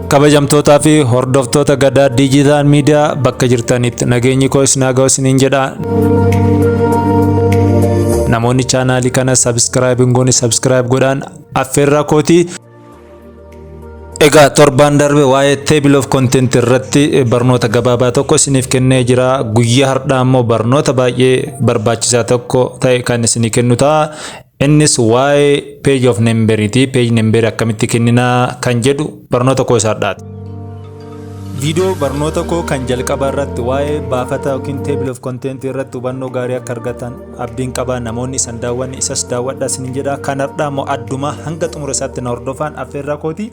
kabajamtootaa fi hordoftoota gadaa diijitaal miidiyaa bakka jirtanitti nageenyi koo isin haa ga'u isiniin jedha. Namoonni chaanaalii kana sabiskiraayib hin goone sabiskiraayib godhaan affeerraa kooti. Egaa torbaan darbe waa'ee table of content irratti barnoota gabaabaa tokko isiniif kennee jira. Guyyaa har'aa immoo barnoota baay'ee barbaachisaa tokko ta'e kan isinii kennu ta'a. Innis waa'ee page of number ti. Page number akkamitti kennina kan jedhu barnoota koo isa har'aati. Viidiyoo barnoota koo kan jalqaba irratti waa'ee baafata yookiin table of content irratti hubannoo gaarii akka argatan abdiin qaba. Namoonni isan daawwanne isas daawwadhaa isinin jedha. Kan har'aa immoo addumaa hanga xumura isaatti na hordofaan affeerraa kooti.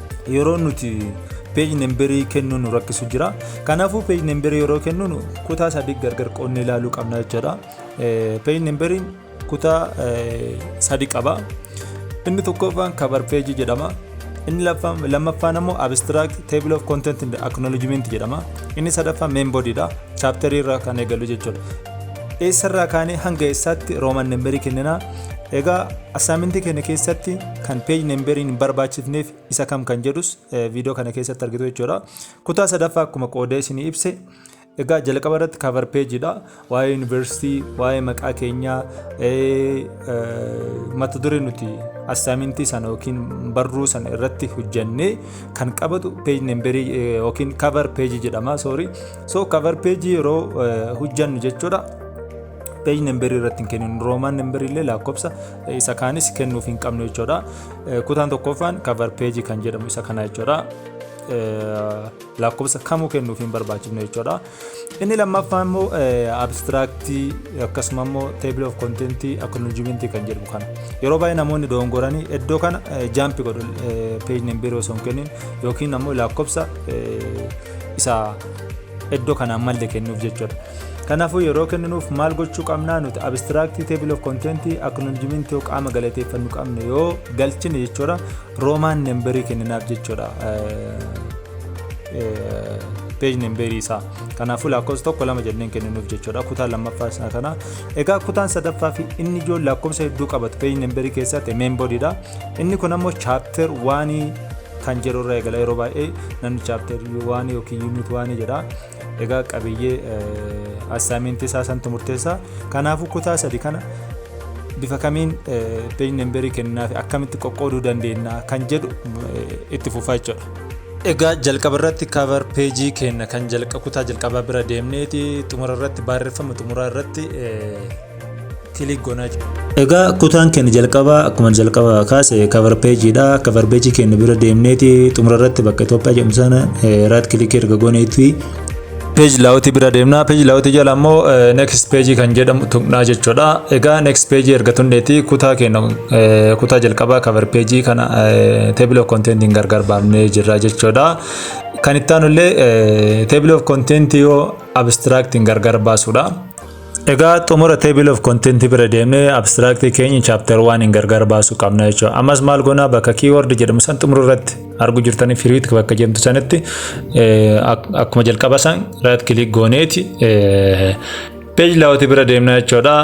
yeroo nuti peeji nemberii kennuu nu rakkisu jira kanaafuu peeji nemberii yeroo kennu kutaa sadii gargar qoodnee ilaaluu qabna jechuudha peeji nemberiin kutaa sadii qaba inni tokkoffaan kabar peejii jedhama inni lammaffaan ammoo abstract table of content and acknowledgement jedhama inni sadaffaan main body dha chapter irraa kan eegalu jechuudha eessarraa kaanee hanga eessaatti rooman nemberii kenninaa Egaa assaamintii keenya keessatti kan page namberiin hin barbaachifneef isa kam kan jedhus viidiyoo kana keessatti argitu jechuudha. Kutaa sadaffaa akkuma qoodee isinii ibse egaa jalqaba irratti cover page dha. Waa'ee yuunivarsiitii, waa'ee maqaa keenyaa, mata duree nuti assaamintii sana yookiin barruu sana irratti hojjannee kan qabatu page namberii yookiin cover page jedhama sorry. So cover page yeroo hojjannu jechuudha. page number irratti hin kenninu roman number illee lakkoofsa isa kaanis kennuuf hin qabnu jechuudha kutaan tokkoffaan cover page kan jedhamu isa kana jechuudha lakkoofsa kamuu kennuuf hin barbaachifne jechuudha inni lammaffaa immoo abstraaktii akkasuma immoo table of content acknowledgement kan jedhamu kana yeroo baay'ee namoonni dogongoranii iddoo kana jaampi godhu page number osoo hin kennin yookiin ammoo lakkoofsa isa iddoo kanaan malle kennuuf jechuudha. Kanaafuu yeroo kenninuuf maal gochuu qabnaa nuti abstract table of content acknowledgement yoo qaama galateeffannu qabne yoo galchine jechuudha roomaan nemberii kenninaaf jechuudha page nemberii isaa kanaafuu lakkoofsa tokko lama jenneen kenninuuf jechuudha kutaa lammaffaa isaa kana egaa kutaan sadaffaa fi inni ijoon lakkoofsa hedduu qabatu page nemberii keessatti main bodyidha inni kun ammoo chapter waanii kan jedhu irra eegala yeroo baay'ee namni chapter waanii yookiin unit waanii jedha Egaa qabiyyee assaayimentii isaa santu murteessaa. Kanaafuu kutaa sadi kana bifa kamiin peeji nemberii kennaafi akkamitti qoqqooduu dandeenya kan jedhu itti fufaa jechuudha. Egaa jalqaba irratti kavar peejii keenya kan kutaa jalqabaa bira deemneeti xumura irratti barreeffama xumuraa irratti kilik goonaa jira. Egaa kutaan keenya jalqabaa akkuma jalqaba kaase kavar peejiidha. Kavar peejii keenya bira deemneeti xumura irratti bakka Itoophiyaa jedhamu sana raat kilikii erga gooneeti. Peeji laawutii bira deemna. Peeji laawutii jala ammoo next peejii kan jedhamu tuqnaa jechuudha. Egaa next peejii erga tunneeti kutaa keenya kutaa jalqabaa kavar peejii kana table of content gargar baafnee jirra jechuudha. Kan itti aanu illee table of content yoo abstract gargar baasuudha. Egaa xumura table of content bira deemnee abstract keenya chapter 1 hin gargar baasuu qabna jechuudha. Ammas maal goona bakka keyword jedhamu san xumura irratti argu jirtanii firiit bakka jedhamtu sanitti akkuma jalqaba san right click gooneeti page layout bira deemna jechuudha.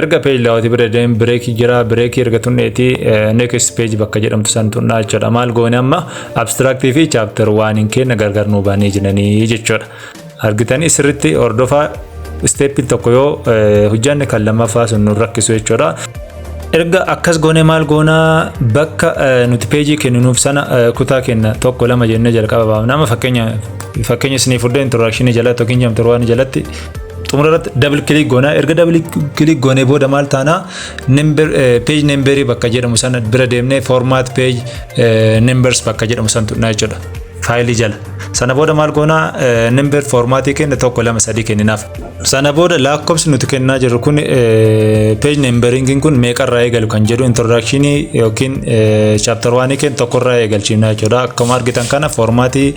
Erga page layout bira deem break jira break erga tunneeti next page bakka jedhamtu san tunna jechuudha. Maal goone amma abstract fi chapter 1 hin kenna gargar nuu baanee jiranii jechuudha. argitanii sirritti hordofaa isteeppiin tokko yoo hojjanne kan lammaffaa sun nu rakkisu jechuudha. Erga akkas goone maal goonaa bakka nuti peejii kenninuuf sana kutaa kenna tokko lama jennee jalqaba baafna. Amma fakkeenya fakkeenya isinii fudhee introdakshinii jalatti yookiin jamte waan jalatti xumura irratti dabli kilik goonaa erga dabli kilik goonee booda maal taanaa peej nemberii bakka jedhamu sana bira deemnee formaat peej nembers bakka jedhamu sana tuqnaa jechuudha. faayilii jala sana booda maal goona nimber foormaatii kenna tokko lama sadii kenninaaf sana booda lakkoofsi nuti kennaa jirru kun peej nimberingiin kun meeqarraa eegalu kan jedhu introdakshinii yookiin chaaptar waanii kenna tokkorraa eegalchiifna jechuudha akkuma argitan kana foormaatii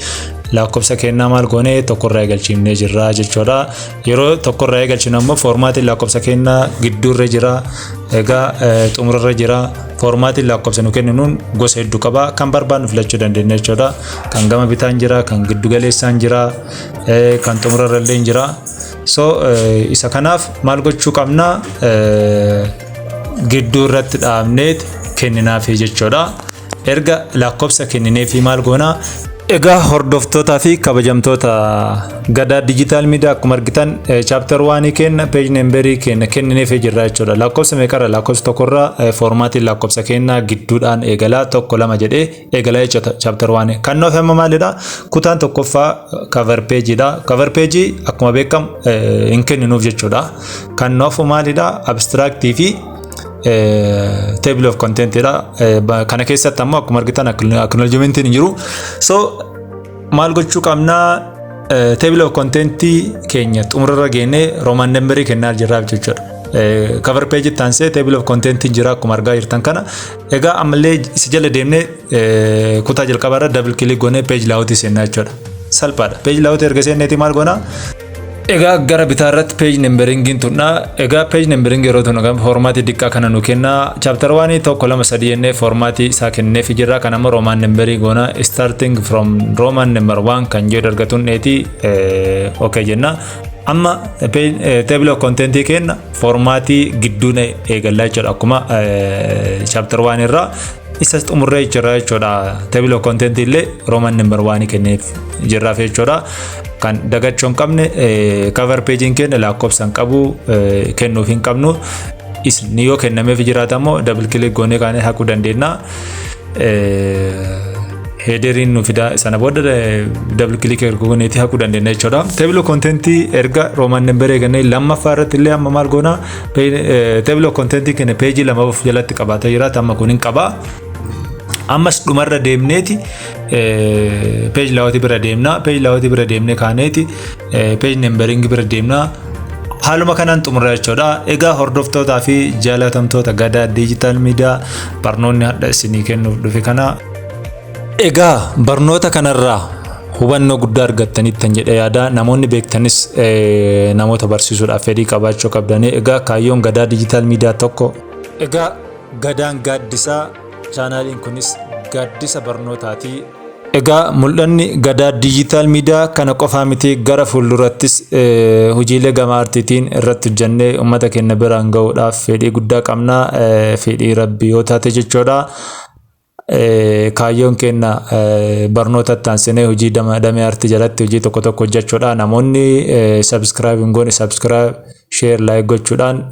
lakkoofsa kennaa maal goone tokkorraa eegalchiifnee jirra jechuudha Yeroo tokkorraa eegalchinu ammoo foormaatiin lakkoofsa kennaa gidduurra jira. Egaa xumurarra jira. Foormaatiin lakkoofsa nu kenninuun gosa hedduu qaba. Kan barbaadnu filachuu dandeenya jechuudha. Kan gama bitaan jira, kan giddu galeessaan jira, kan xumurarra illee jira. So isa kanaaf maal gochuu qabna? Gidduu irratti dhaabneet kenninaaf jechuudha. Erga lakkoofsa kennineefii maal goonaa? Egaa hordoftootaa fi kabajamtoota gadaa digital media akkuma argitan chapter 1 kenna page number kenna kennineefii jirra jechuudha. Lakkoofsa meeqarra lakkoofsa tokkorra foormaatiin lakkoofsa kenna gidduudhaan eegalaa tokko lama jedhee eegalaa jechuudha chapter 1. Kan nuuf amma maalidha? Kutaan tokkoffaa cover page dha. Cover page akkuma beekamu hin kenninuuf jechuudha. Kan nuuf maalidha? Abstract fi table of content dha kana keessatti ammoo akkuma argitan acknowledgement hin jiru so maal gochuu qabnaa table of content keenya xumurarra geennee roman number kennaa jirraa jechuudha. cover page itti aansee table of content jira akkuma argaa jirtan kana egaa ammallee isa jala deemnee kutaa jalqabaarra double click goonee page layout seennaa jechuudha salphaadha page layout erga seenneeti maal goonaa Egaa gara bitaa irratti page numberingiin tunna. Egaa page numbering yeroo tunnu kan foormaatii diqqaa kana nu kenna. Chapter 1 tokko lama sadii jennee foormaatii isaa kenneef jirra. Kan amma Roman numberii goona starting from Roman number 1 kan jedhu argatuun dheeti okay jenna. Amma table of content kenna foormaatii gidduun eegallaa jechuudha akkuma chapter 1 irraa isas xumurree jirra jechuudha. Table of content illee Roman number waan kenneef jirraaf jechuudha. Kan dagachuu hin qabne cover page'n keenya lakkoofsa hin qabu kennuuf hin qabnu. Isin yoo kennameef jiraata immoo double click goonee kaanee haquu dandeenya. heederiin nu fida sana booda double click erga gooneeti haquu dandeenya jechuudha. Table of content erga Roman number eegannee lammaffaa irratti illee amma maal goona? Table of content keenya peejii lama of jalatti qabaatee jira. Amma kun hin qaba. Ammas dhumarra deemneeti peej laawwatii bira deemna. Peej laawwatii bira deemnee kaaneeti peej nemberingi bira deemna. Haaluma kanaan xumura jechuudha. Egaa hordoftootaa fi jaalatamtoota gadaa diijitaal miidiyaa barnoonni hadha isinii kennuuf dhufe kana Egaa barnoota kanarraa hubannoo guddaa argattanittan jedhe yaada namoonni beektanis eh, namoota barsiisuudhaaf fedhii qabaachuu qabdanii egaa kaayyoon gadaa diijitaal miidiyaa tokko egaa gadaan gaaddisaa chaanaaliin kunis gaaddisa barnootaati egaa mul'anni gadaa diijitaal miidiyaa kana qofaa miti gara fuuldurattis eh, hojiilee gama artiitiin irratti hojjannee uummata keenya biraan ga'uudhaaf fedhii guddaa qabna eh, fedhii rabbii yoo taate jechuudha Kaayyoon keenya barnoota itti aansinee hojii damee artii jalatti hojii tokko tokko hojjechuudha. Namoonni subscribe hin goone subscribe, share, like gochuudhaan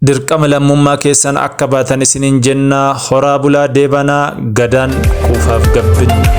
dirqama lammummaa keessan akka baatan isiniin jenna. Horaa bulaa deebanaa gadaan kuufaaf gabbinni.